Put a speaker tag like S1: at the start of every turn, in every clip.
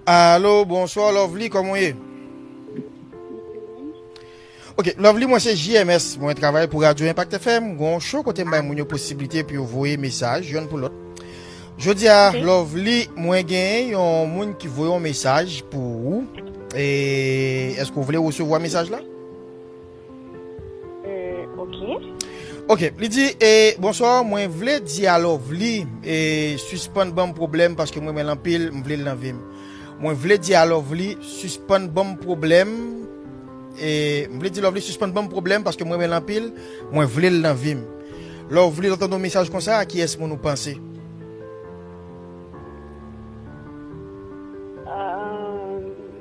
S1: Alo bonswa lovely koman w ye Ok lovely mwen se JMS mwen travay pou radio impact FM mwen gon show kote m bay moun yo posibilite pou yo voye mesaj yon pou lot Jodi a lovely mwen gen yon moun ki voye yon mesaj pou ou Eske ou vle resevwa mesaj la? Hum
S2: ok. Ok
S1: li di e bonsoir mwen vle di a lovely e sispann banm problème paske m renmen l anpil m vle l nan vim mwen vle di a lovely sispann banm problème e m vle di lovely sispann banm problème paske m renmen l anpil mwen vle l nan vim lovely lè w tande yon mesaj konsa a kiyès moun ou panse
S2: Ahh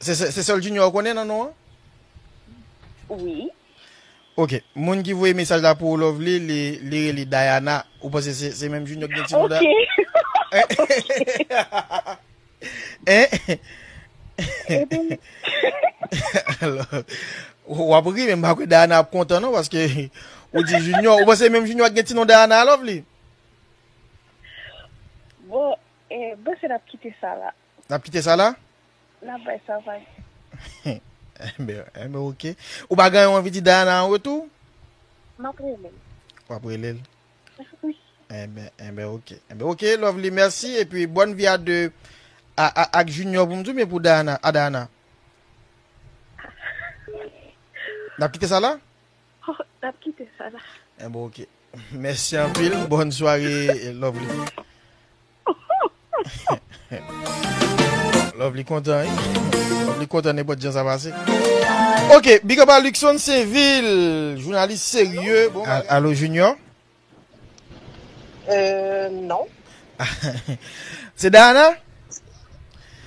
S1: Se sèl junior ou konnen nan non an?
S2: Wi.
S1: Ok, moun ki voye mesaj la pou ou Lovely li rele Diana, ou panse se menm junior ki gen ti non Diana? Ok. Wap ri men m pa kwè Diana ap kontan non paske ou di junior, ou panse se menm junior ki gen ti non Diana Lovely?
S2: Bon, m panse nap kite sa la. Nap kite sa la?
S1: Nap bay sa
S2: vag.
S1: Enben ok. Ou pa gen anvi di Diana an retou? Map
S2: rele l. Wap rele l?
S1: Wi.
S2: Enben
S1: ok. Enben ok Lovely mèsi e pi bòn vi a 2 ak Junior pou m di oubyen pou Diana? A Diana. Nap kite sa la? Nap kite sa la.
S2: Enben ok.
S1: Mèsi anpil. Bòn sware Lovely. Love li kontan wi. Love li kontan ne pot jan sa pase. Ok, big up a Luxon Sevil. Jounalis serye. Bon, alo Junior? Euh,
S3: non.
S1: Se Dana?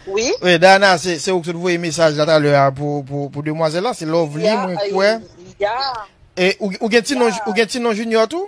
S3: Oui. Oui, Dana,
S1: se ou ki sot voye mesaj la talè a pou demwazè la. Se Love li mwen kwe. Ya,
S3: ya.
S1: Ou gen ti non Junior tou?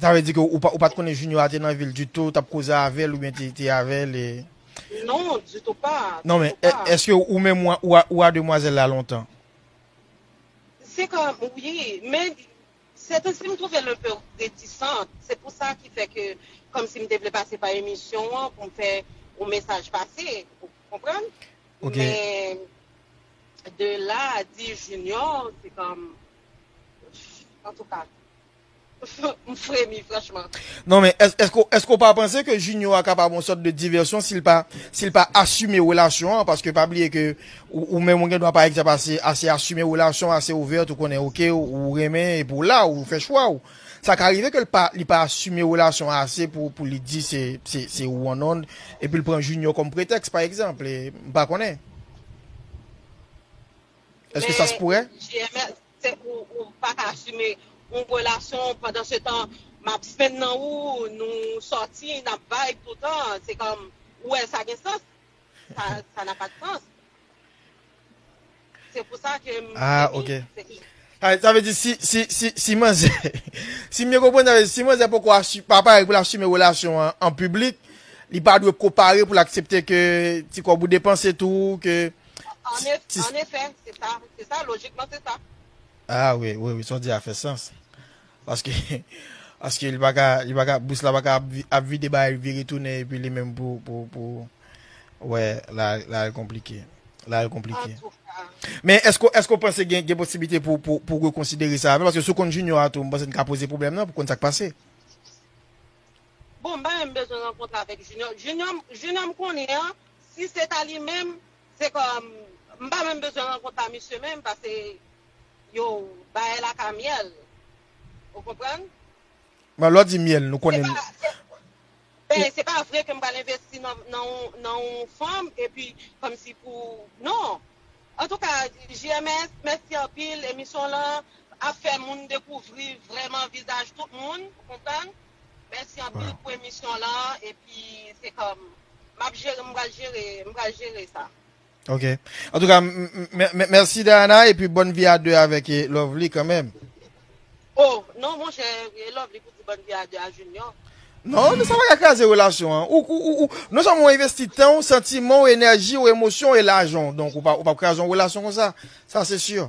S3: Sa vle di ke
S1: ou pat konnen Junior a te nan vil ditou, tap koze avèl oubyen te avèl e. Non, ditou pa, ditou
S3: pa. Non men, eske
S1: ou
S3: menm
S1: ou a demwazèl la lontan?
S3: Se ka, wi, men sèten si m twouve l enpe retisant, se pou sa ki fè ke kòm si m te vle pase pa emisyon an pou m fè yon mesaj pase, ou konprann? Ok. Men, de la a di Junior, se kòm, antouka. M fremi franchman. Non men
S1: eske w pa panse ke Junio a kapab yon sòt de divèsyon si l pa si l pa asime relasyon an paske pa bliye ke ou menm ou gen dwa pa egzanp ase asime relasyon ase ouvert ou konnen ok ou renmen epi w la ou fè chwa w sa ka rive ke l pa li pa asime relasyon an ase pou li di se se ou an non epi l pran Junio kòm pretèks pa egzanp m pa konnen eske sa se poure. Men JMS
S3: Se pou ou pa ka asime yon relasyon pandan se tan map spend nan ou, nou sòti, nap vibe toutan, se kòm ou wè sa
S1: gen sans? Sa n'a pas de sens. Se pou sa ke m fini. Sa vle di si manzè, si m byen konprann sa vle di si manzè poko pa pare pou l asime relasyon an an piblik, li pa dwe ko pare pou l aksepte ke ti kòb ou depanse tou, ke An ef, Ti an efè, se sa, se
S3: sa, lojikman se sa. Ah wi, wi,
S1: wi, sa w di a fè sans. Paske, paske li pa ka, li pa ka, bous la pa ka ap vi, ap vide bagay li vire tounen epi li menm pou, pou, pou Wè, la, la al konplike. La al konplike. Antouka. Men
S3: èske w, èske
S1: w panse gen, gen posiblite pou, pou, pou rekonsidere sa avè l? Paske si w konn Junior a tou, m panse n ka poze pwoblèm nan pou konn sa k pase.
S3: Bon bagay m bezwen rankontre avèk Junior Junior m Junior m konnen an si se ta li menm se kòm m pa menm bezwen rankont a misye menm pase yo bagay la ka myèl ou konprann
S1: Bon lè w di myèl nou se konnen pa
S3: se ben se pa vre ke m pral envesti nan nan yon nan yon fanm epi kòmsi pou non antouka JMS mèsi anpil emisyon w lan ap fè moun dekouvri vrèman vizaj tout moun ou konprann. Mèsi anpil pou emisyon lan epi se kòm map jere m pral jere m pral jere
S1: sa. Ok. An tou ka mèsi Dayana epi bòn vi a 2 avèk Lovely kanmèm. Oh
S3: non monchè Lovely pou di bòn vi a 2 a Junior. Non, sa pa ka
S1: kraze relasyon an. Ou, ou, ou, non sèlman ou envesti tan ou, santiman ou, enèji ou, emosyon ou e lajan ou. Donk ou pa, ou pa kraze yon relasyon konsa. Sa se sûr.